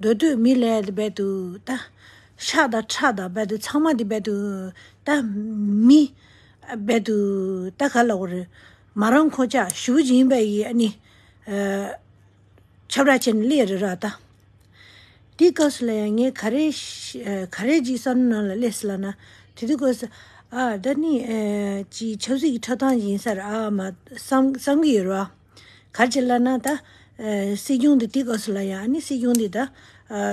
འདོད་དུ་མི་ལས་འདི་རྦད་དུ་ད། ཤ་དང་ཁྲག་དང་རྦད་དུ་ཚང་མ་འདི་རྦད་དུ་ད། མི། རྦད་དུ་ད་ག་ལ་བ་རུ། མ་རང་ཁོ་ཅག་ཞུ་བཞིན་པ་ཡི་ཨ་ནི། ཆབ་ར་ཆེན་ལས་རི་ར་ད། དེའི་སྐབས་སུ་ལ་ཡང་ངས་ག་རེ། ག་རེ་ཅིག་བསམ་ནང་ལ་སླེབས་སྲིད་ལ་ན། དེ་དུས་ཀོ་ས། ཨ། ད་ནི། ཅིག་ཆབ་སྲིད་ཀྱི་ཁྲོད་དང་ཡིན་སར་ཨ་མ། བསམ་གྱི་ཡོད་རེད་བ། གར་བྱེད་ལ་ན་ད། སྲིད་སྐྱོང་འདི་ཏིག་ཨོ་སི་ལ་ཡ་ཨ་ནི་སྲིད་སྐྱོང་འདི་ད།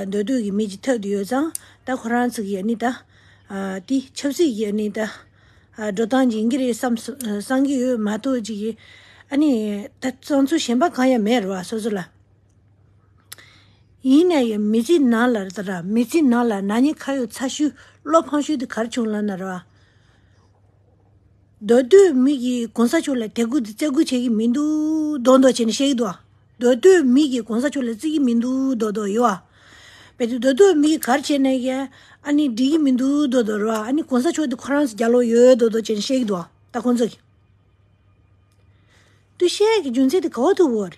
འདོད་སྡུག་གི་མི་ཅི་ཐད་དུ་ཡོད་ཙང་ད་ཁོ་རང་ཚིག་གི་ཨ་ནི་ད། དེ་ཆབ་སྲིད་ཀྱི་ཨ་ནི་ད། འགྲོ་སྟངས་སྦྱིན་གྱི་རེད་བསམ་བསམ་གྱི་ཡོད་མ་གཏོགས་ཅི་གི། ཨ་ནི་ད་གཙང་ཚུལ་གཞན་པ་གང་ཡང་མེད་རེད་བ་སོ་སོ་ལ། ཡིན་ན་ཡང་མི་ཚེ་ནང་ལ་རེད་ད། མི་ཚེ་ནང་ལ་ནག་ཉེས་ཁ་ཡོག་ཚ་ཤུལ་བློ་ཕངས་ཤུལ་དེ་གར་བྱུང་ལ་ན་རེད་བ། མདོ་སྟོད་མི་གིས་གོང་ས་མཆོག་ལ་དད་གུས་བརྩེ་གུས་བྱེད་ཀྱི་མི་འདུག་མདོག་མདོག་བྱས་ནས་བཤད་ཀྱི་འདུག་ཨ། མདོ་སྟོད་མི་གིས་གོང་ས་མཆོག་ལ་བརྩི་གི་མི་འདུག་མདོག་མདོག་ཡོད་ཨ། བས་དེ་མདོ་སྟོད་མི་གིས་གར་བྱས་ནས་ཀྱི་ཨ་ནི་འགྲིག་གི་མི་འདུག་མདོག་མདོག་རེད་ཨ། ཨ་ནི་གོང་ས་མཆོག་དེ་ཁོ་རང་ཚོ་རྒྱ་ལོག་ཡོད་མདོག་མདོག་བྱས་ནས་བཤད་ཀྱི་འདུག་ཨ། ད་ཁོང་ཚོ་གིས། དུས་བཤད་ཀྱི་རྒྱུ་མཚན་དེ་ག་བ་ཐུབ་བོ་རེད།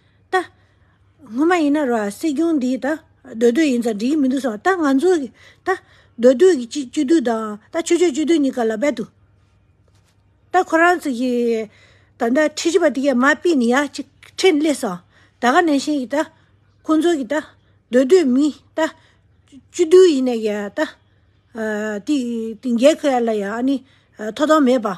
ད། སྔོན་མ་ཡིན་ན་རོ། སྲིད་སྐྱོང་འདིས་ད། འདོད་འདོད་ཡིན་ཙང་འགྲིག་གི་མི་འདུག་སོང་ད་ང་ཚོ། ད། འདོད་འདོད་ཀྱི་སྤྱི་སྤྱི་འཐུས་དང་ད་ཆོས་ཆོས་སྤྱི་འཐུས་གཉིས་ཀ་ལ་རྦད་དུ། ད་ཁོ་རང་ཚོ་གི། ད་ད་ཁྲི་བཞི་པ་དེ་གས་མ་སྤེལ་ནི་ཡ་གཅིག་ཁྲི་སླེ་སོང་ད་ག་ནས་བཞིན་གྱི་ད། ཁོང་ཚོ་གི་ད། འདོད་འདོད་མི་ད། སྤྱི་འཐུས་ཡིན་ནས་ཀྱི་ད། དེ་དེ་འགས་ཁོ་ཡ་ལ་ཡ་ཨ་ནི་ཐོ་དང་མེད་པ།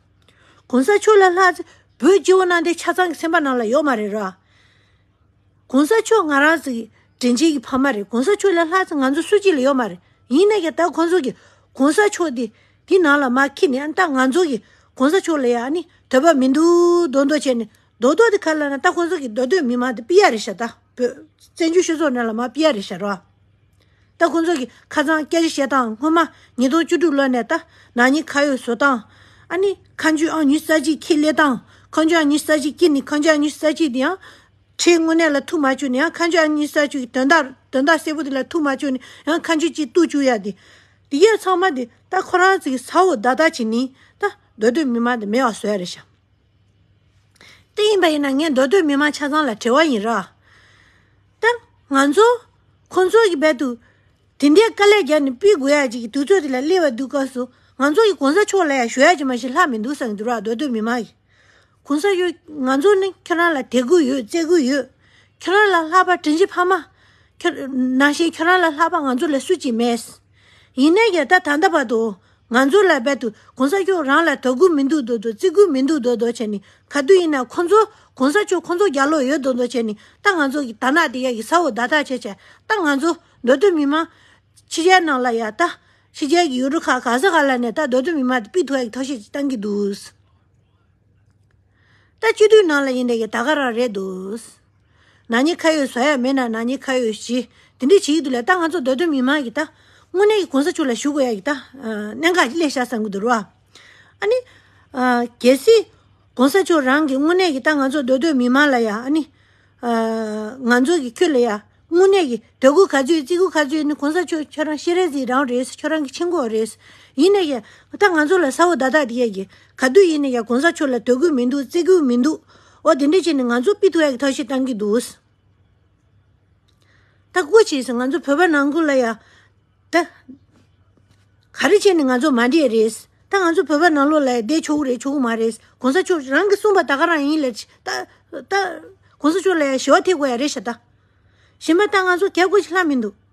གོང་ས་མཆོག་ལ་ལྷ། བོད་སྐྱེ་བོ་གནའ་དེང་ཆ་ཚང་གི་སེམས་པ་ནང་ལ་ཡོད་མ་རེད་ར། གོང་ས་མཆོག་ང་རང་ཚོ་ཡི་དྲིན་ཅན་གྱི་ཕ་མ་རེད་གོང་ས་མཆོག་ལ་ལྷ་ཚོ་ང་ཚོ་སུ་གཅིག་ལ་ཡོད་མ་རེད་ཡིན་ནའི་ཀྱང་ད་ཁོང་ཚོ་གི་གོང་ས་མཆོག་དེ་དེ་ནང་ལ་མ་ཁེལ་ནའི་ད་ང་ཚོ་གི་གོང་ས་མཆོག་ལ་ཡ་ནི་དོད་པ་མི་འདུག་རྡོག་རྡོག་བྱས་ནས་རྡོག་རྡོག་དེ་ཁ་ལ་ན་ད་ཁོང་ཚོ་གི་རྡོག་རྡོག་མི་མང་དེ་སྤི་ཡ་རེད་ཤ་ད་བོད་བཙན་བྱོལ་སྤྱི་ཚོགས་ནང་ལ་མ་སྤི་ཡ་རེད་ཤ་ར། ད་ཁོང་ཚོ་གི་ཁ་ཚང་སྐྱ་ཅི་བཤད་སྟངས་སྔོན་མ་ཉིས་སྟོང་བཅུ་དྲུག་ལོ་ནས་ད་ནང་གཉིས་ཁ་ཡོད་བཟོ་སྟངས་ཨ་ནི་ཁ་མཆུ་ཨང་ཉུས་ས་གཅིག་ཁྱི་ལེ་སྟངས་ཁ་མཆུ་ཨང་ཉུས་ས་གཅིག་སྐྱི་ནི་ཁ་མཆུ་ཨང་ཉུས་ས་གཅིག་དེ་ཡང་ཁྲའི་དངོས་གནས་ལ་ཐུག་མ་བཅུག་ནི་ཡང་ཁ་མཆུ་ཨང་ཉུས་ས་བཅུག་གི་དོན་དག་དོན་དག་གསལ་པོ་དེ་ལ་ཐུག་མ་བཅུག་ནི་ཡང་ཁ་མཆུ་གཅིག་བཏུག་བཅུག་ཡ་དེ་དེ་གས་ཚང་མ་དེ་ད་ཁོ་རང་ཚོ་གི་ས་འོག་བདག་བདག་བྱེད་ནི་ད་སྡོད་སྡོད་མི་མ་དེ་མེད་བ་བཟོས་རེད་ཤག། ཏེ་ཡིན་པ་ཡིན་ན་ངས་མདོ་སྟོད་མི་མང་ཆ་ཚང་ལ་དྲི་བ་ཡིན་རོགས་དང། ང་ཚོ། ཁོང་ཚོ་གི་བར་དུ། དེ་འདྲའི་དཀའ་ལས་རྒྱབ་ནས་སྤི་དགོས་ཡ་གཅིག་གི་དུས་ཚོད་དེ་ལ་སླེབས་བ་འདུག་སྐབས་སུ་ང་ཚོ་ཡི་གོང་ས་མཆོག་ལ་ཡ་ཞུ་ཡ་གཅིག་མ་ཞིག་ལྷག་མི་འདུག་བསམ་གི་འདུག་རོགས་མདོ་སྟོད་མི་མང་གི། གོང་ས་གཡོ། ང་ཚོ་ནི་ཁྱོད་རང་ལ་དད་གུས་ཡོད་བརྩེ་གུས་ཡོད། ཁྱོད་རང་ལ་ལྷག་པ་དྲིན་ཆེན་ཕ་མ། ཁྱོད། ནང་བཞིན་ཁྱོད་རང་ལ་ལྷག་པ་ང་ཚོ་ལ་སུ་གཅིག་མེད། ཡིན་ནའི་ཡ་ད་ད་ལྟ་བར་དུ་ང་ཚོ་ལ་རྦད་དུ་གོང་ས་མཆོག་རང་ལ་དད་གུས་མི་འདུག་འདུག་འདུག་བརྩི་གུས་མི་འདུག་འདུག་འདུག་བྱས་ནས་ག་དུས་ཡིན་ན་ཁོང་ཚོ་གོང་ས་མཆོག་ཁོང་ཚོ་རྒྱ་ལོག་ཡོད་འདུག་འདུག་བྱས་ནས་ད་ང་ཚོ་གི་དར་ནག་དེ་ཡ་གི་ས་འོག་བརྡ་ཐག་ཆད་ཆད་ད་ང་ཚོ་འདོད་དོན་མི་མང། ཕྱི་རྒྱལ་ནང་ལ་ཡ་ད་ཕྱི་རྒྱལ་གི་ཡུལ་གྲུ་ཁག་ག་ས་ག་ལ་ནས་ད་འདོད་དོན་མི་མང་དེ་པི་ཐུ་ཡ་གི་ཐོག་ཤེས་བཏང་གི་འདུག་ད་སྤྱི་འཐུས་ནང་ལ་ཡིན་ནའི་ཡ་ད་ག་རང་རེད་འདུག། ན་ནི་ཁ་ཡོད་ཟ་ཡག་མེད་ན་ན་ནི་ཁ་ཡོད་ཞི། དེ་འདྲའི་བྱེད་ཡུལ་དུ་ལས་ལྟ་ང་ཚོ་འདོད་དོན་མི་མང་གི་ལྟ། དངོས་གནས་ཀྱི་གོང་ས་ཆུ་ལ་ཞུགས་དགོས་ཡག་གི་ལྟ། གནད་འགག་གི་སླད་ཤ་བསམ་གྱི་འདུག་རོ། ཨ་ནི། གལ་སྲིད། གོང་ས་ཆུ་རང་གི་དངོས་གནས་ཀྱི་ལྟ་ང་ཚོ་འདོད་དོན་མི་མང་ལ་ཡ་ཨ་ནི། ང་ཚོ་གི་ཁྱོད་ལ་ཡ། དངོས་གནས་ཀྱི་དོད་གུ་ག་ཚོད་ཡོད་ཙི་གུ་ག་ཚོད་ཡོད་ནི་གོང་ས་ཆུ་ཁྱོད་རང་ཤེས་རན་ཟིག་རང་རེད་ཁྱོད་རང་གི་ཆེན་ཁོག་རེད། ཡིན་ནས་ཀྱང་ལྟ་ང་ཚོ་ལ་ས་འོ་ད་དག་དེ་ཡག་གི་ག་དུས་ཡིན་ནས་ཀྱང་གོང་ས་ཆུ་ལ་དོད་གུ་མི་འདུག་ཙི་གུ་མི་འདུག། ཨོ་དེ་འདྲས་བྱས་ནས་ང་ཚོ་པི་ཏུ་ཨེག་ཐོག་ཤེས་བཏང་གི་འདུག། ད་སྒོ་ཕྱེས་སོང་ང་ཚོ་བོད་པ་ནང་ཁུལ་ལ་ཡང། ད། ག་རེ་བྱས་ནས་ང་ཚོ་མ་འདྲེས་རེད། ད་ང་ཚོ་བོད་པ་ནང་ལོགས་ལ་ཡང་བསྡད་ཆོག་གི་རེད་ཆོག་གི་མ་རེད། གོང་ས་མཆོག་རང་གིས་གསུངས་པ་ད་ག་རང་ཡིན་ལེ། ད། ད། གོང་ས་མཆོག་ལ་ཡང་ཞི་བ་ཐེབས་དགོས་ཡ་རེད་ཤ་ད། གཞན་པ་ད་ང་ཚོ་ག་སྒོ་ཕྱེ་ལྷག་མི་འདུག།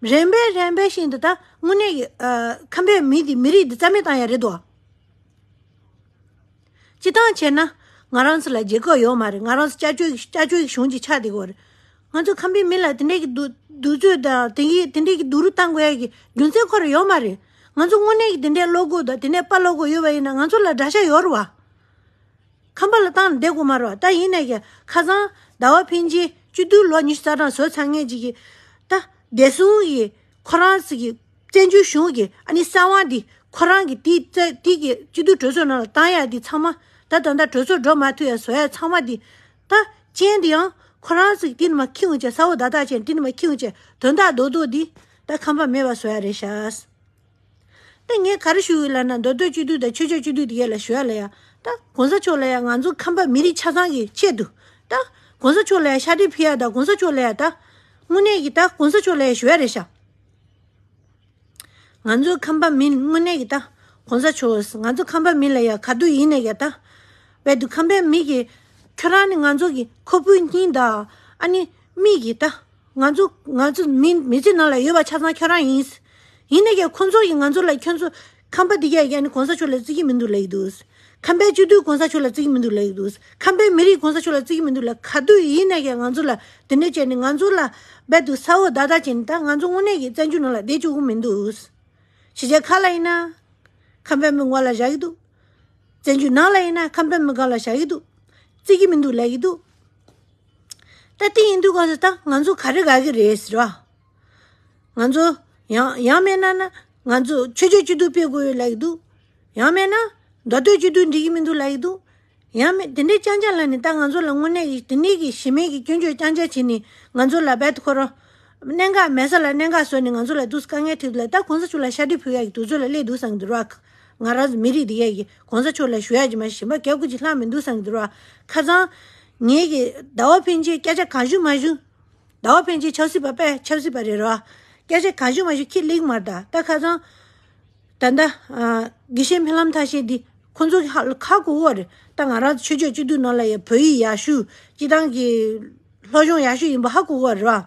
རན་པས་རན་པས་ཤིང་འདི་ད་དངོས་གནས་ཀྱི་ཁམས་པའི་མི་འདི་མི་རིགས་འདི་རྩ་མེད་བཏང་ཡ་རེད་དོ། སྤྱི་ཐང་ཆེ་ན་ང་རང་ཚོ་ལ་རྒྱལ་ཁབ་ཡོད་མ་རེད་ང་རང་ཚོ་སྐྱ་ཅོའི་སྐྱ་ཅོའི་གཞུང་གི་ཆ་དེ་གོ་རེད། ང་ཚོ་ཁམས་པའི་མི་ལ་དེ་འདྲའི་གི་འདུ་འདུ་ཚོད་དང་དེ་གི་དེ་འདྲའི་གི་འདུ་རུ་བཏང་དགོས་ཡ་གི་རྒྱུ་མཚན་ཁོ་ར་ཡོད་མ་རེད། ང་ཚོ་དངོས་གནས་ཀྱི་དེ་འདྲའི་བློ་དགོས་དང་དེ་འདྲའི་དཔའ་བློ་དགོས་ཡོད་པ་ཡིན་ན་ང་ཚོ་ལ་དགྲ་ཤ་ཡོད་རུ་བ། ཁམས་པ་ལ་བཏང་ལ་འདས་གོ་མ་རོག་ད་ཡིན་ནས་ཀྱི་ཁ་བཟང། ཟླ་བ་ཕན་ཆེན་བཅུ་བདུན་ལོ་ཉི་ཤུ་རྩ་གྲངས་བཟོ་ཚར་ངེས་ཅི་གི། ད་བདེ་སྲུང་གི་ཁོ་རང་ཟིག་གི་བཙན་བྱོལ་གཞུང་གི་ཨ་ནི་སྲང་བ་འདི་ཁོ་རང་གི་དེའི་རྩ་དེའི་གི་སྤྱི་བསྡུ་གྲོས་ཚོགས་ནང་ལ་བཏང་ཡག་འདི་ཚང་མ་ད་ད་ད་གྲོས་ཚོགས་འགྲོ་མ་ཐུ་ཡག་བཟོ་ཡག་ཚང་མ་འདི། ད་སྤྱན་འདི་ཡང་ཁོ་རང་ཟིག་ཏིལ་མ་ཁེའུ་བཅས་ས་འོག་བརྡ་རྟགས་ཅན་ཏིལ་མ་ཁེའུ་བཅས་དོན་དག་རྡོག་རྡོག་འདི་ད་ཁམས་པ་མེད་པ་བཟོ་ཡག་རེད་ཤགས། ད་ངས་ག་རེ་ཞུ་འོས་ལབ་ན་མདོ་སྟོད་སྤྱི་འཐུས་དང་ཆོས་ཕྱོགས་སྤྱི་འཐུས་དེ་ག་ལ་ཞུ་ཡ་ལ་ཡ། ད་གོང་ས་མཆོག་ལ་ཡ་ང་ཚོ་ཁམས་པ་མི་རིགས་ཆ་ཚང་གི་ཆེད་དུ། ད་གོང་ས་མཆོག་ལ་ཡ་ཤ་ཏི་ཕི་ཡ་ད་གོང་ས་མཆོག་ལ་ཡ་ད། དངོས་གནས་ཀྱི་ད་གོང་ས་མཆོག་ལ་ཡ་ཞུ་ཡ་རེད་ཤག། ང་ཚོ་ཁམས་པ་མིན་དངོས་གནས་ཀྱི་ད་གོང་ས་མཆོག་ང་ཚོ་ཁམས་པ་མིན་ལ་ཡ་ག་དུས་ཡིན་ནས་ཀྱ་ད། བས་དུ་ཁམས་པའི་མིག་གི། ཁྱོད་རང་ནི་ང་ཚོ་གི་ཁོ་བོའི་སྙིང་དང། ཨ་ནི། མིག་གི་ད། ང་ཚོ་ང་ཚོ་མི་མི་ཚེ་ནང་ལ་ཡོད་པ་ཆ་ཚང་ཁྱོད་རང་ཡིན། ཡིན་ནས་ཀྱང་ཁོ་ཚོ་ཡིས་ང་ཚོ་ལ་ཁྱོད་ཚོ་ཁམས་པ་འདི་རྒྱ་རྒྱ་ནི་གོང་ས་མཆོག་ལ་བརྩི་གི་མི་འདུག་ལེགས་འདུག། ཁམས་པའི་སྤྱི་མཐུས་གོང་ས་མཆོག་ལ་བརྩི་གི་མི་འདུག་ལེགས་འདུག་ཁམས་པའི་མི་རིགས་གོང་ས་མཆོག་ལ་བརྩི་གི་མི་འདུག་ལེགས་ག་དུས་ཡིན་ནས་ཀྱང་ང་ཚོ་ལ་དེ་འདྲ་བྱས་ནས་ང་ཚོ་ལ་རྦད་དུ་ས་འོག་བརྡ་རྟགས་བྱས་ནས་ད་ང་ཚོ་དངོས་གནས་ཀྱི་བཙན་བྱོལ་ནང་ལ་བསྡད་བཅུག་གི་མི་འདུག། བྱས་རྗེས་ཁ་ལ་ཡིན་ན་ཁམས་པའི་མི་ངོ་ལ་བཞག་གི་འདུག། བཙན་བྱོལ་ནང་ལ་ཡིན་ན་ཁམས་པའི་མི་སྒང་ལ་བཞག་གི་འདུག། བརྩི་གི་མི་འདུག་ལེགས་འདུག། ད་དེ་ཡིན་འདུག་ག་ད་ང་ཚོ་ག་རེ་དགའ་གི་རེད་ཟེར་བ། ང་ཚོ་ཡང་ཡང་མེད་ན་ན་ང་ཚོ་ཆོས་རྒྱུད་སྤྱི་འཐུས་སྤེལ་དགོས་ཡོད་ལབ་ཀྱི་འདུག་ཡང་མེད་ན་མདོ་སྟོད་སྤྱི་འཐུས་འགྲིག་གི་མི་འདུག་ལབ་ཀྱི་འདུག་ཡང་མེད་དེ་འདྲའི་སྐྱང་ཆ་ལ་ནི་ད་ང་ཚོ་ལ་དངོས་གནས་ཀྱི་དེ་ནས་ཀྱི་གཞི་མེད་ཀྱི་སྐྱོན་བརྗོད་སྐྱང་ཆ་བྱེད་ནི་ང་ཚོ་ལ་བད་དུ་འཁོར་རོ། གནད་འགག་མེད་ས་ལ་གནད་འགག་བཟོས་ནི་ང་ཚོ་ལ་དུས་སུ་དཀའ་ངལ་ཐེག་འདུག་ལ་ད་གོང་ས་མཆོག་ལ་ཤ་ཁྲི་ཕུལ་ཡག་གི་འདུག་ཚོད་ལ་སླེད་འདུག་བསམ་གྱི་འདུར་བ། ང་རང་མི་རིགས་འདི་ག་གིས་གོང་ས་མཆོག་ལ་ཞུ་ཡག་གྱི་མ་ཞེན་པ་ག་གོ་གྱི་ལྷག་མི་འདུག་བསམ་གྱི་འདུར་བ། ཁ་ཚང། ངེད་ཀྱི་ཟླ་བ་ཕན་ཆད་སྐད་ཆ་གང་ཞུ་མ་ཞུ། ཟླ་བ་ཕན་ཆད་ཆབ་སྲིད་པ་པས་ཆབ་སྲིད་པ་རེད་རོགས། སྐད་ཆ་གང་ཞུ་མ་ཞུ་ཁྱི་ལིག་མར་ད་ལྟ་ཁ་ཚང། ད་ལྟ། དགེ་བཤེས་འཕེལ་ལམ་ཐ་ཤལ་འདི། ཁོ་ཚོ་གི་ཁ་དགུ་བོ་རེད། ད་ང་རང་ཆོས་ཕྱོགས་གཅིག་སྡུད་ནོར་ལ་ཡ་བོད་ཡིག་ཡག་ཤུ། སྤྱི་བཏང་གི། སློབ་སྦྱོང་ཡག་ཤུ་ཡིན་པ་ཧ་གོ་གོ་རེད་རོགས།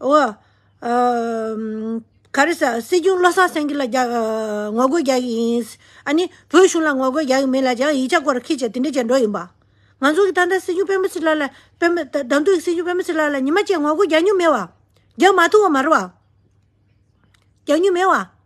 འོ། ག་རེ་ཟ། སྲིད་སྐྱོང་བློ་བཟང་སེང་གེ་ལ་ངོ་རྒོལ་རྒྱག་གི་ཡིན། ཨ་ནི། བོད་གཞུང་ལ་ངོ་རྒོལ་རྒྱག་གི་མིན་ལ་ཡང་ཡིག་ཆ་སྐོར་ཁྱེད་ཀྱིས་དེ་འདྲ་བྱས་འགྲོ་ཡིན་པ། ང་ཚོ་གི་ད་ལྟ་སྲིད་སྐྱོང་བེམ་པོ་སི་ལགས་ལ། བེམ་པོ། ད་དུང་སྲིད་སྐྱོང་བེམ་པོ་སི་ལགས་ལ་ཉི་མ་བཅས་ངོ་རྒོལ་རྒྱག་མྱོང་མེད་བ། རྒྱག་མ་ཐུབ་བ་མ་རེད་བ། རྒྱག་མྱོང་མེད་བ།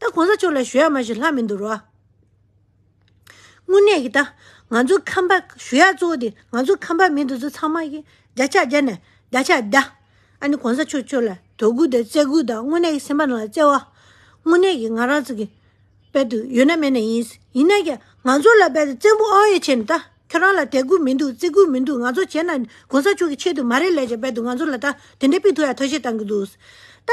ད་གོང་ས་མཆོག་ལ་ཞུ་ཡག་མ་ཞུ་ལྷག་མི་འདུག་རོ། དངོས་གནས་ཀྱི་ད་ང་ཚོ་ཁམས་པ་ཞུ་ཡག་གཙོ་བོ་དེ་ང་ཚོ་ཁམས་པ་མི་འདི་ཚོ་ཚང་མ་ཡི་རྒྱ་ཕྱག་རྒྱ་ནས་རྒྱ་ཕྱག་རྒྱ། ཨ་ནི་གོང་ས་མཆོག་ཁྱོད་ལ་དོ་གུ་དང་བརྩེ་གུ་དང་དངོས་གནས་ཀྱི་སེམས་པ་རང་ལ་བརྩེ་བ། དངོས་གནས་ཀྱི་ང་རང་ཚོ་གི་དཔལ་དུ་ཡོད་ན་མེད་ན་ཡིན། ཡིན་ན་ཡང་ང་ཚོ་ལ་དཔལ་དུ་བཙན་པོ་ཨའོ་ཡེ་ཆེ་ནི་ད་ཁྱོད་རང་ལ་དད་གུ་མི་འདུག་བརྩེ་གུ་མི་འདུག་ང་ཚོ་བྱས་ན་གོང་ས་མཆོག་གི་ཆེད་དུ་མ་རེད་ལས་ཀྱང་དཔལ་དུ་ང་ཚོ་ལ་ད་དེ་འདྲའི་པི་ཐུ་ཡ་ཐོ་ཤེས་བཏང་གི་འདུག་ད།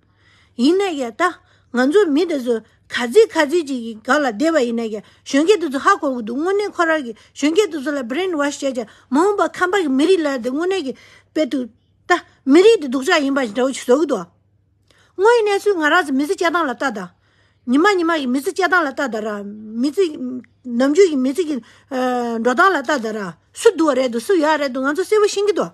ཡིན་ནས་ཀྱི་ད་ང་ཚོ་མི་དེ་ཚོ་ག་ཚིག་ག་ཚིག་ཅིག་གི་སྒང་ལ་བསྡད་པ་ཡིན་ནས་ཀྱི་གཞོན་སྐྱེས་དེ་ཚོ་ཧ་གོ་གི་འདུག་དངོས་གནས་ཁོ་རང་གིས་གཞོན་སྐྱེས་དེ་ཚོ་ལ Brain Wash བྱས་ཀྱང་མ་འོངས་པར་ཁམས་པ་གི་མི་རིགས་ལ་དེ་དངོས་གནས་ཀྱི་དཔེ་དུ་ད་མི་རིགས་དེ་སྡུག་ཅག་ཡིན་པ་ཞིག་འདྲ་བོ་ཞིག་བཟོ་གི་འདུག་ཨ། དངོས་ཡིན་ནས་སུས་ང་རང་ཚོ་མི་ཚེ་སྐྱེལ་སྟངས་ལ་ལྟ་དང། ཉི་མ་ཉི་མ་གི་མི་ཚེ་སྐྱེལ་སྟངས་ལ་ལྟ་དང་ར། མི་ཚེ་ནམ་རྒྱུན་གྱི་མི་ཚེ་གྱི་འགྲོ་སྟངས་ལ་ལྟ་དང་ར། སུ་སྡུག་བ་རེད་འདུག་སུ་ཡག་བ་རེད་འདུག་ང་ཚོ་གསལ་བོ་ཤེས་ཀྱི་འདུག་ཨ།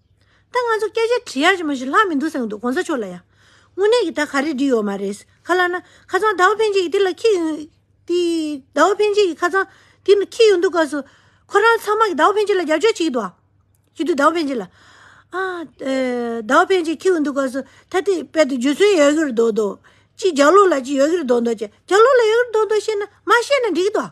ད་ང་ཚོ་སྐད་ཆ་དྲི་ཡར་གྱི་མ་ཞིག་ལྷག་མི་འདུག་ཟེར་གི་འདུག་གོང་ས་མཆོག་ལ་ཡང་དངོས་གནས་ཀྱི་ད་ག་རེ་འདྲི་ཡོད་མ་རེད། ཁ་ལག་ན་ཁ་ཚང་ཟླ་བ་འཕེན་བྱེད་ཀྱི་དེ་ལ་ཁྱི་ཡོད། དེ་ཟླ་བ་འཕེན་བྱེད་ཀྱི་ཁ་ཚང་དེ་ན་ཁྱི་ཡོད་འདུག་སྐབས་སུ། ཁོ་རང་ཚང་མ་གི་ཟླ་བ་འཕེན་བྱེད་ལ་རྒྱབ་སྐྱོར་བྱེད་ཀྱི་འདུག་ཨ། ཞུ་དུས་ཟླ་བ་འཕེན་བྱེད་ལ། ཨ། ཟླ་བ་འཕེན་བྱེད་ཁྱི་ཡོད་འདུག་སྐབས་སུ་ད་དེ་དཔལ་དུ་རྒྱུ་ཚོན་ཡོད་གིར་འདུག་འདུག། ཅི་རྒྱ་ལོ་ལ་ཅི་ཡོད་གིར་འདུག་འདུག་ཅེ་རྒྱ་ལོ་ལ་ཡོད་གིར་འདུག་འདུག་བཤད་ན་མ་བཤད་ན་འགྲིག་གི་འདུག་ཨ།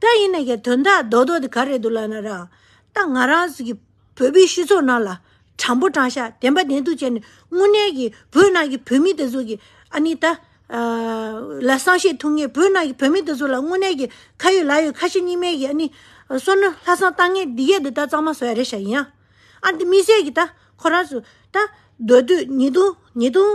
ད་ཡིན་ན་ཡང་དོན་དག་རྡོག་རྡོག་དེ་ག་རེད་འདུག་ལབ་ན་རང་ད་ང་རང་གི་བོད་པའི་སྤྱི་ཚོགས་ནང་ལ་དྲང་པོ་དྲང་ཤ་བདེན་པ་བདེན་ཐུག་བྱས་ནས་དངོས་གནས་ཀྱི་བོད་ནང་གི་བོད་མི་དེ་ཚོ་གི་ཨ་ནི་ད་ལ་བསམ་ཤེས་ཐུབ་ངེས་བོད་ནང་གི་བོད་མི་དེ་ཚོ་ལ་དངོས་གནས་ཀྱི་ཁ་ཡོད་ལག་ཡོད་ཁ་ཞེ་གཉིས་མེད་ཀྱི་ཨ་ནི་བསོད་ནམས་ལྷག་བསམ་བཏང་ངེས་འདི་གས་འདི་ད་གཙང་མ་བཟོ་ཡ་རེད་ཤག་ཡིན་ཡང་ཨ་ནི་དམིགས་བསལ་གྱི་ད་ཁོ་རང་ཚོ་ད་སྡོད་དུས་ཉིས་སྟོང་ཉིས་སྟོང་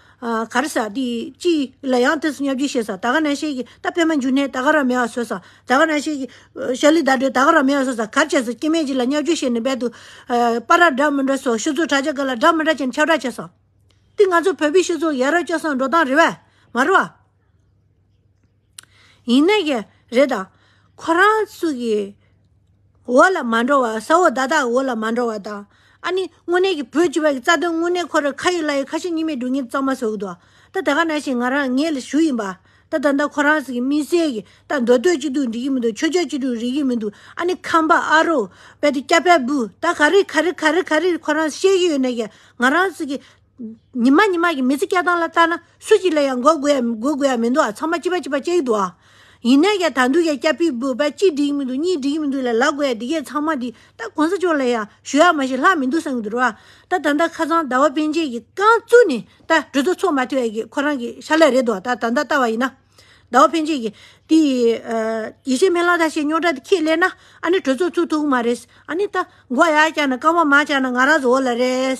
ག་རེ་ཟ། དེ་ཅི། ལ་ཡང་དེ་སུ་ཉབ་ཀྱི་ཤེས་ཟ། ད་ག་ནས་ཤེས་ཀྱི། ད་པད་མ་འཇུ་ནས་ད་ག་ར་མེ་བ་ཟོས་ཟ། ད་ག་ནས་ཤེས་ཀྱི། ཤ་ལི་ད་འདྲོད་ད་ག་ར་མེ་བ་ཟོས་ཟ། གར་བྱས་ཟ། སྐྱེ་མེད་ཀྱི་ལ་ཉག་ཆུ་ཤེས་ནས་འབད་དུ། པ་ར་སྒྲ་མི་འདྲ་སོགས་ཤུལ་ཚོགས་དྲ་བྱ་ག་ལ་སྒྲ་མི་འདྲ་ཅན་ཁྱབ་བསྒྲགས་བྱས་སོ། འདི་ང་ཚོ་བོད་པའི་ཤུལ་ཚོགས་ཡ་རབས་སྐྱོ་སངས་འགྲོ་སྟངས་རེད་བས། མ་རེད་བ། ཡིན་ནའི་ཀྱི་རེད་ད། ཁོ་རང་ཚོ་གི་འོག་ལ་མ་འགྲོ་བར་ས་འོག་བདག་དག་གི་འོག་ལ་མ་འགྲོ་བར་ད། ཨ་ནི་དངོས་གནས་ཀྱི་བོད་སྤྱི་བ་གི་རྩ་དོན་དངོས་གནས་ཁོ་ར་ཁ་ཡོད་ལག་ཡོད་ཁ་ཞེ་གཉིས་མེད་སྒྲུག་ཉིན་གཙང་མ་བཟོ་གི་འདུག་ད་ད་ག་ནང་བཞིན་ང་རང་ངས་ལ་ཞུ་ཡིན་པ་ད་ད་ད་ཁོ་རང་ཚོ་གི་མི་སེར་གི་ད་མདོ་སྟོད་སྤྱི་འཐུས་འགྲིག་གི་མི་འདུག་ཆོས་རྒྱལ་སྤྱི་འཐུས་རིག་གི་མི་འདུག་ཨ་ནི་ཁམས་པ་ཨ་རོ་པད་དེ་སྐྱ་པད་བུ་ད་ག་རི་ག་རི་ག་རི་ག་རི་ཁོ་རང་ཤེས་ཀྱི་ཡོད་ནའི་ཀྱི་ང་རང་ཚོ་གི། ཉི་མ་ཉི་མ་གི་མི་ཚེ་སྐྱེལ་སྟངས་ལ་ལྟ་ན་སུ་གཅིག་ལ་ཡང་འགོ་དགོས་ཡ་མི་འགོ་དགོས་ཡ་མི་འདུག་ཨ་ཚང་མ་གཅིག་པ་གཅིག་པ་སྐྱེལ་གི་འདུག་ཨ། ཡིན་ནས་ཀྱང་ད་འདུག་ཀྱང་སྐྱ་ཕིག་བུ་པ་གཅིག་འགྲིག་གི་མི་འདུག་གཉིས་འགྲིག་གི་མི་འདུག་ལ་ལ་དགོས་ཡ་འདི་གས་ཚང་མ་འདི་ལྟ་གོང་ས་མཆོག་ལ་ཡང་ཞུ་ཡ་མ་བྱེད་ལྷག་མི་འདུག་བསམ་གི་འདུག་ར། ད་ད་ལྟ་ཁ་ཚང་ཟླ་བ་དཔོན་ཆེན་གྱི་རྐང་བཙུགས་ནས་ད་གྲོས་ཚོགས་ཚོགས་མ་ཐུབ་ཡ་གི་ཁོ་རང་གི་ཤ་ལས་རེད་འདུག་ད་ད་ལྟ་ལྟ་བ་ཡིན་ན། ཟླ་བ་འཕེན་ཆེན་གྱི་དེ་ཡི་ཡེ་ཤེས་མེ་གླང་ཐ་ཤལ་རྙོག་དྲ་དེ་ཁྱེད་ལས་ན་ཨ་ནི་གྲོས་ཚོགས་ཚུགས་ཐུག་གི་མ་རེད་ཨ་ནི་ད་འགོ་ཡ་བཅག་ན་རྐང་པ་མ་བཅག་ན་ང་རང་བཟོ་བོ་ལ་རེད།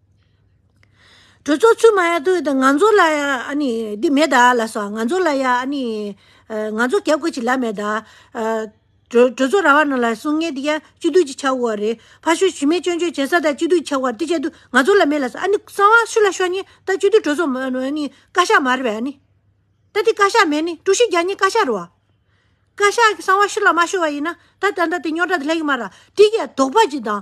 གྲོས་ཚོགས་ཚུད་མ་ཡག་དུས་ང་ཚོ་ལ་འདི་མེད་ད་ལ་སོགས་ང་ཚོ་ལ་ཡ་ཨ་ནི་ང་ཚོ་རྒྱབ་དགོས་ཅིག་ལབ་མེད་ད། གྲོས་ཚོགས་ར་བ་རྣམས་ལ་གསུང་ངས་འདི་ཡ་སྤྱི་བསྡུས་ཅིག་ཆགས་འོ་རེད་ཕ་ཤུལ་ཞུས་མེད་སྐྱོན་བརྗོད་བྱེད་ས་ད་སྤྱི་བསྡུས་ཆགས་འོ་རེད་དེ་བྱས་དུས་ང་ཚོ་ལ་མེད་ལ་སོགས་ཨ་ནི་གསང་བ་ཤུ་ལ་ཤོ་ཉེས་ད་སྤྱི་བསྡུས་གྲོས་ཚོགས་མ་ཨ་ནི་བཀའ་ཤག་མ་རེད་བས་ཨ་ནི། ད་འདི་བཀའ་ཤག་མེད་ནི་ཀྲུའུ་ཞི་རྒྱ་ཉེ་བཀའ་ཤག་རུ་བ། བཀའ་ཤག་གི་གསང་བ་ཤུ་ལ་མ་ཤོ་བ་ཡིན་ན་ད་ད་ད་དེ་རྙོག་དྲ་དེ་ལྷག་གི་མ་ར་དེ་ཡ་དོགས་པ་ཅིག་དང།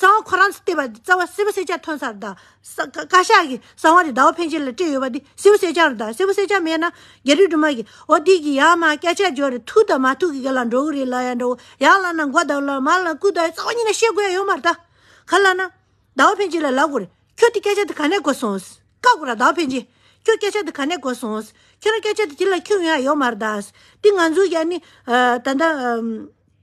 གསང་བ་ཁོ་རང་ཚོས་བལྟས་པ་འདི་རྩ་བ་སེར་བུ་སེར་ལྕགས་ཐོན་སར་དང། བཀའ་ཤག་གིས་གསང་བ་རི་དྭགས་འཕེན་བྱེད་ལ་སྤྲད་ཡོད་པ་འདི་སེར་བུ་སེར་ལྕགས་རེད་དམ་སེར་བུ་སེར་ལྕགས་མེད་ན་རྒྱ་རིགས་དྲུང་མ་གིས་འོ་འདི་གི་ཡང་མ་སྐད་ཆ་འགྱོ་རེ་ཐུག་དང་མ་ཐུག་གི་ག་ལ་འགྲོ་གི་རེད་ལ་ཡང་འགྲོ་ཡང་བླ་ན་མགོ་བརྡབ་ལ་མ་བླ་ན་སྐུ་བརྡབ་རྩ་བ་གཉིས་ན་ཤེས་དགོས་ཡ་ཡོད་མ་རེད་ད་ག་བླ་ན་དྭགས་བ་འཕེན་བྱེད་ལ་ལབ་དགོས་རེད་ཁྱོད་འདི་སྐད་ཆ་འདི་ག་ནས་གོ་སོང་བཀག་དགོས་ར་དྭགས་བ་འཕེན་བྱེད་ཁྱོད་སྐད་ཆ་འདི་ག་ནས་གོ་སོང་ཁྱོད་རང་སྐད་ཆ་འདི་དེ་ལ་འཁྱོངས་ཡོད་ཡ་ཡོད་མ་རེད་ད་འདི་ང་ཚོའི་ཡ་ནི་ད་ལྟ།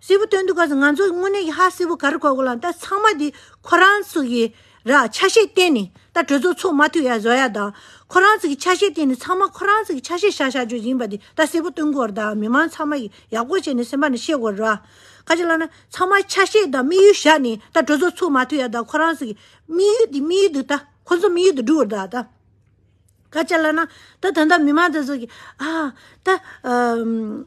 སེར་བོ་སྟོན་འདུག་ག་ཟེར་ང་ཚོ་དངོས་གནས་ཀྱི་ཧ་སེར་བོ་ག་རེ་གོ་དགོས་ལ་ད་ཚང་མ་འདི་ཁོ་རང་ཚོ་གི་ར་ཆ་ཤས་བསྟན་ནས་ད་གྲོས་ཚོགས་ཚོགས་མ་ཐུབ་ཡ་བཟོ་ཡ་ད་ཁོ་རང་ཚོ་གི་ཆ་ཤས་བསྟན་ནས་ཚང་མ་ཁོ་རང་ཚོ་གི་ཆ་ཤས་བཞག་བཞག་རྒྱུ་ཡིན་པ་འདི་ད་སེར་བོ་སྟོན་སྐོར་ད་མི་མང་ཚང་མ་གི་ཡག་པོ་བྱས་ནས་སེམས་པ་ནས་ཤེས་དགོས་རེད་བ། ཁ་ཅིག་ལ་ན་ཚང་མ་ཆ་ཤས་དང་དམིགས་ཡུལ་བཞག་ནས་ད་གྲོས་ཚོགས་ཚོགས་མ་ཐུབ་ཡ་ད་ཁོ་རང་ཚོ་གི་དམིགས་ཡུལ་འདི་དམིགས་ཡུལ་འདི་ད་ཁོ་ཚོ་དམིགས་ཡུལ་དུ་འགྲུབ་རེད་ད། ཁ་ཅིག་ལ་ན་ད་ད་ལྟ་མི་མང་ད་ཚོ་གི་ཨ་ད།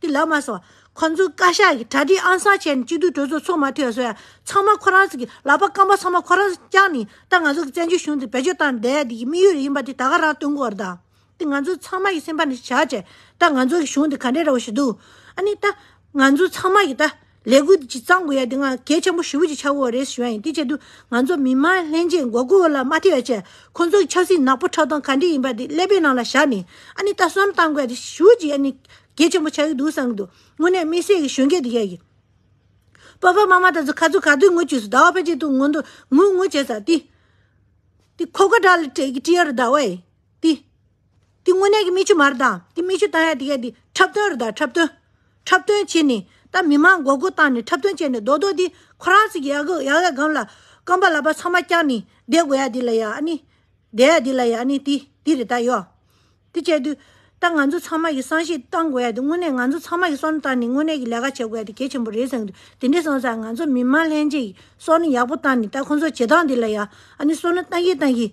དེ་ལགས་མ་སོང། ཁོ་ཚོའི་བཀའ་ཤག་གིས་གྲ་སྒྲིག་ཨང་གསར་བྱས་ནས་གཅིག་སྡུད་གྲོས་ཚོགས་ཚོགས་མ་ཐོས་སོ་ཡང་ཚང་མ་ཁོ་རང་ཚོ་གི་ལག་པ་སྐམ་པོ་ཚང་མ་ཁོ་རང་ཚོ་བསྐྱངས་ནས་ད་ང་ཚོ་གི་བཙན་བྱོལ་གཞུང་དེ་བེད་སྤྱོད་བཏང་བསྡད་དེ་གི་དམིགས་ཡུལ་རེད་ཡིན་པ་དེ་ད་ག་རང་སྟོན་དགོས་རེད་ད། དེ་ང་ཚོ་ཚང་མ་གི་སེམས་པ་ནས་བྱ་བྱས་ད་ང་ཚོ་གི་གཞུང་དེ་ག་འདྲའི་ར་བ་ཞིག་འདུག་ཨ་ནི་ད་ང་ཚོ་ཚང་མ་གི་ད། ལས་འགུལ་འདི་ཇི་ཙམ་དགོས་ཡ་འདི་ང་གལ་ཆེན་པོ་ཞི་བུ་ཅིག་ཆགས་འོ་རེད་ཞུ་ཡ་ཡིན་དེ་ཆེད་དུ་ང་ཚོ་མི་དམངས་ལྷན་རྒྱས་མགོ་སྒུར་བ་ལ་མ་ཐེ་བ་བྱས་ཁོང་ཚོ་གི་ཆབ་སྲིད་ནག་པོ་ཁྲག་འཐུང་ག་འདྲི་ཡིན་པ་དེ་ཀླད་པའི་ནང་ལ་བཞག་ནས་ཨ་ནི་ལྟ་སོམ་བཏང་དགོས་ཡ་དེ་ཞུ་བ་ཅིག་ཨ་ནི་གལ་ཆེན་པོ་ཆགས་ཀྱི་འདུག་བསམ་གྱི་འདུག་དངོས་གནས་དམིགས་བསལ་གྱི་གཞོན་སྐྱེས་དེ་ཡ་ཡིན། པ་པ་མ་མ་ད་ཚོ་ཁ་ཚུགས་ག་དུས་ངུ་བཅུས་སུ་ཟླ་བ་ཕལ་ཆེར་དུ་ངུ་འདུག་ངུ་ངུ་བྱས་ས་དེ། དེ་ཁོ་ཁ་དྲག་ལ་དྲེག་གི་དཀྲི་ཡ་རུ་ཟླ་བ་ཡི་དེ། དེ་དངོས་གནས་ཀྱི་མི་ཆུ་མར་དང་དེ་མི་ཆུ་ལྟ་ཡ་དེ་ག་དེ་འཁྲབ་སྟོན་རེད་ད་འཁྲབ་སྟོན། འཁྲབ་སྟོན་བྱེད་ནི་ད་མི་མང་མགོ་སྒུར་བཏང་ནས་འཁྲབ་སྟོན་བྱས་ནས་རྡོག་རྡོག་དེ་ཁོ་རང་ཚོ་གི་ཡག་གི་ཡག་ཡག་སྒམ་ལ་སྐམ་པ་ལག་པ་ཚང་མ་བརྐྱངས་ནས་བསྡད་དགོས་ཡ་དེ་ལ་ཡག་ནི་བསྡད་ཡ་དེ་ལ་ཡག་ནི་དེ་དེ་རེད་ད་ཡོད། དེ་བྱས་དུས་ད་ང་ཚོ་ཚང་མ་གི་བསམ་ཤེས་བཏང་དགོས་ཡ་དེ་དངོས་གནས་ང་ཚོ་ཚང་མ་གི་སོ་ནི་བཏང་ནས་དངོས་གནས་ཀྱི་ལས་ཀ་བྱེད་དགོས་ཡ་དེ་གལ་ཆེན་པོ་རེད་བསམ་གི་འདུག་དེ་འདྲས་སོང་ཙང་ང་ཚོ་མི་མང་ལྷན་རྒྱས་ཀྱི་སོ་ནི་ཡག་པོ་བཏང་ནས་ད་ཁོང་ཚོ་བྱེད་སྟངས་དེ་ལ་ཡག་ནི་སོ་ནི་བཏང་གིན་བཏང་གིན།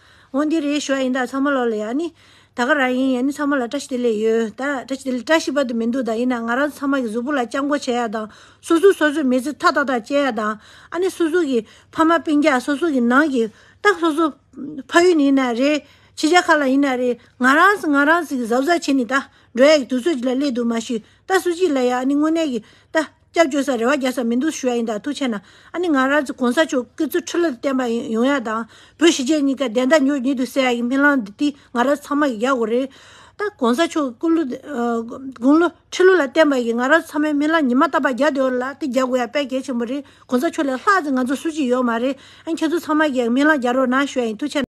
འོ་འདི་རེད་ཞོ་ཡིན་ད་ཚང་མ་ལོག་ལ་ཡག་ནི། ད་ག་རང་ཡིན་ཡ་ནི་ཚང་མ་ལ་བཀྲ་ཤིས་བདེ་ལེགས་ཡོད་ད། བཀྲ་ཤིས་བདེ་ལེགས་བཀྲ་ཤིས་པ་དུ་མི་འདུག་ད་ཡིན་ན་ང་རང་ཚང་མ་གི་གཟུགས་པོ་ལ་སྐྱབས་མགོ་བྱེད་ཡག་དང་སོ་སོའི་སོ་སོའི་མི་ཚེ་ཐ་ཐག་ཐག་བཅད་ཡག་དང། ཨ་ནི་སོ་སོ་གི་ཕ་མ་སྤིན་རྒྱག་སོ་སོ་གི་ནང་གི་ཏག་སོ་སོ་ཕ་ཡུལ་ནི་ཡིན་ན་རེད་ཕྱི་རྒྱ་ཁ་ལ་ཡིན་ན་རེད་ང་རང་ཚོ་ང་རང་ཚོ་གི་བཟའ་བཟའ་བྱེད་ནི་ད་འགྲོ་ཡག་གི་དུས་ཚོད་ཅིག་ལ་སླེབས་འདུག་མ་ཞུས་ད་སུ་གཅིག་ལ་ཡག་ཨ་ནི་དངོས་གནས་གི་ད། སྐྱབས་བཅོལ་སར་རེ་བ་རྒྱག་ས་མི་འདུག་ཞུ་ཡག་ཡིན་དང་ཐུགས་ཆེ་ན་ཨ་ནི་ང་རང་ཚོ་གོང་ས་མཆོག་སྐུ་ཚེ་ཁྲི་ལོ་དུ་བརྟན་པ་ཡོང་ཡག་དང་བོད་ཞི་བྱེས་གཉིས་ཀ་བདེན་མཐའ་མྱུར་ཉིད་དུ་གསལ་ཡག་གི་སྨིན་ལམ་འདི་དུས་ང་རང་ཚང་མ་གི་རྒྱག་དགོས་རེད་ད་གོང་ས་མཆོག་སྐུ་ལོ་དགུང་ལོ་ཁྲི་ལོ་ལ་བརྟན་པ་ཡིན་ང་རང་ཚང་མའི་སྨིན་ལམ་ཉི་མ་རྟ་པ་རྒྱག་འདོད་ཡོད་ལ་དེ་རྒྱག་དགོས་ཡག་དཔལ་རྒྱལ་ཆེན་པོ་རེད་གོང་ས་མཆོག་ལས་ལྷག་ཅིག་ང་ཚོ་སུ་གཅིག་ཡོད་མ་རེད་ཨ་ཁྱེད་ཚོ་ཚང་མ་གི་ཡག་སྨིན་ལམ་རྒྱག་རོགས་གནང་ཞུ་ཡག་ཡིན་ཐུགས་ཆེ།